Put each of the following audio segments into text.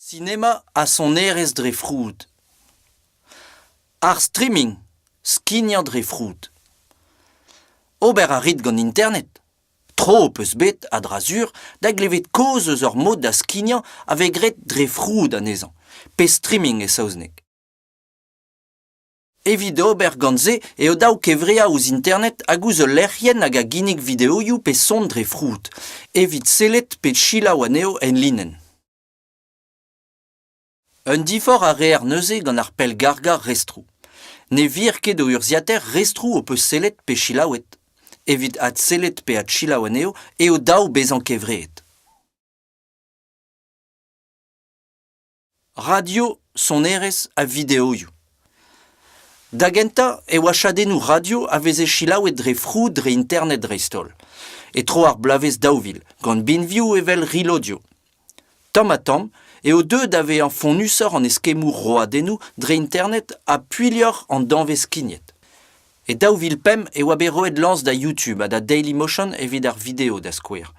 Sinema ha sonerezh dre froud. Ar streaming, skignañ dre froud. Ober a rit gant Internet? Tro ho peus bet, a-dra-sur, da glevet kaoz eus ur mod da skignañ a vez graet dre froud anezhañ. Pe streaming e saozneg. Evit ober gant se eo dav kevreañ ouzh internet hag ouzh ul lec'hienn hag a ginnig videoioù pe son dre froud, evit sellet pe selaou anezho enlinenn. Un diforc'h a reer neuze gant ar pellgargañ restroù. Ne vir ket o urzhiataer restroù ho peus sellet pe selaouet. Evit adsellet pe adselaou anezho eo dav bezañ kevreet. radio, sonerezh ha videoioù. Da gentañ e oa chadennoù radio a veze selaouet dre frou dre internet dreist-holl, e tro ar bloavezh daou vil, gant binvioù evel Rilodio. Tamm-ha-tamm eo deuet da vezañ fonnusoc'h an eskemmoù roadennoù dre internet ha puilhoc'h an danvez skignet. E daou vil pemp e oa bet roet lañs da YouTube ha da Dailymotion evit ar video da skouer,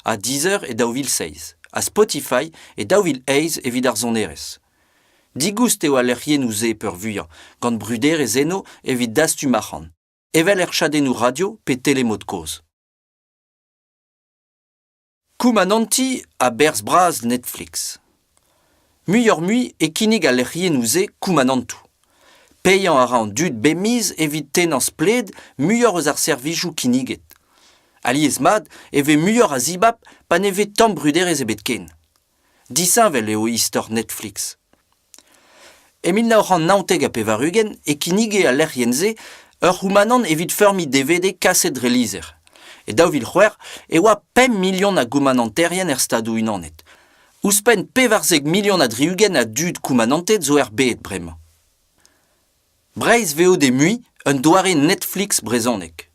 ha Deezer e daou vil seizh, ha Spotify e daou vil eizh evit ar sonerezh. Digoust eo al lec'hiennoù-se peurvuiañ, gant bruderezh eno evit dastum arc'hant, evel er chadennoù radio pe telemod kozh. Koumanantiñ a-berzh bras Netflix. Muioc'h-mui e kinnig al lec'hiennoù-se koumanantoù. Paeañ a ra an dud bemiz evit tennañ splet muioc'h eus ar servijoù kinniget. Alies-mat e vez muioc'h a zibab pa ne vez tamm bruderezh ebet ken. Disheñvel eo istor Netflix. E mil nav c'hant naontek ha pevar-ugent e kinnige al lec'hienn-se ur c'houmanant evit feurmiñ DVD kaset dre lizher. E daou vil c'hwec'h e oa pemp milion a goumananterien er Stadoù-Unanet. Ouzhpenn pevarzek milion ha tri-ugent a dud koumananted zo er bed bremañ. Breizh Veo Demuiñ, un doare Netflix brezhonek.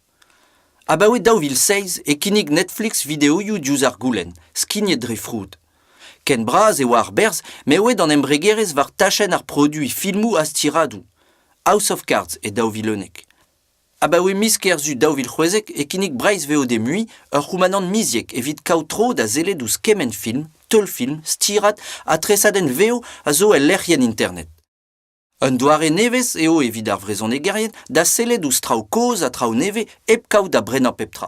Abaoe daou vil seizh e kinnig Netflix videoioù diouzh ar goulenn, skignet dre froud. Ken bras e oa ar berzh m'eo aet an embregerezh war tachenn ar produiñ filmoù ha stiradoù. House of Cards e daou vil unnek. Abaoe miz Kerzu daou vil c'hwezek e kinnig Breizh Veo Demuiñ ur c'houmanant miziek evit kaout tro da sellet ouzh kement film, teulfilm, stirad ha tresadenn vev a zo el lec'hienn internet. Un doare nevez eo evit ar vrezhonegerien da sellet ouzh traoù kozh ha traoù nevez hep kaout da brenañ pep tra.